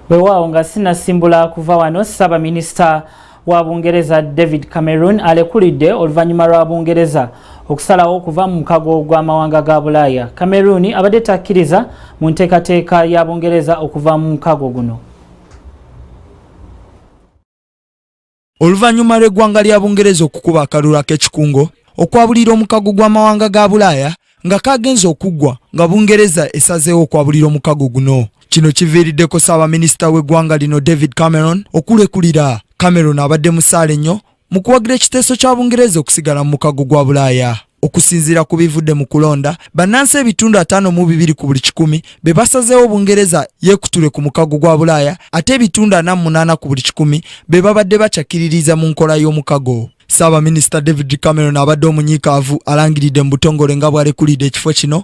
wewaawo nga sinasimbula kuva wano ssaabaminisita wa bungereza david cameron alekulidde oluvannyuma lwa bungereza okusalawo okuva mu mukago gw'amawanga ga bulaaya cameron abadde takkiriza mu nteekateeka ya bungereza okuva mu mukago guno oluvannyuma lw'eggwanga lya Bungereza okukuba akalulu ak'ekikungo okwabulira omukago gw'amawanga ga Bulaaya nga kaagenze okuggwa nga Bungereza esazeewo okwabulira omukago guno. Kino kiviiriddeko ssaabaminisita w'eggwanga lino David Cameron okulekulira. Cameron abadde musaale nnyo mu kuwagira ekiteeso kya Bungereza okusigala mu mukago gwa Bulaaya. Okusinziira ku bivudde mu kulonda, bannansi ebitundu ataano mu bibiri ku buli kikumi be basazeewo Bungereza yeekutule ku mukago gwa Bulaaya ate ebitundu ana mu munaana ku buli kikumi be babadde bacakkiririza mu nkola y'omukago. Ssaabaminisita David Cameron abadde omunyiikaavu alangiridde mu butongole nga bw'alekulidde ekifo kino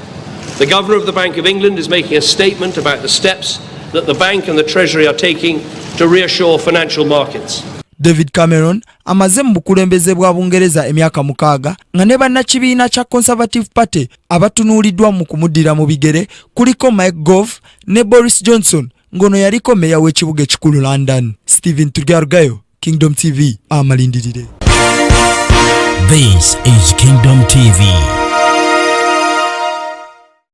The Governor of the Bank of England is making a statement about the steps that the bank and the Treasury are taking to reassure financial markets. David Cameron amaze mu bukulembeze bwa Bungereza emyaka mukaaga nga ne bannakibiina kya Conservative Party abatunuuliddwa mu kumuddira mu bigere kuliko Mike Gove ne Boris Johnson ng'ono yaliko meeya w'ekibuga ekikulu London. Stephen Turgargayo. Kingdom TV amalindirire. This is Kingdom TV.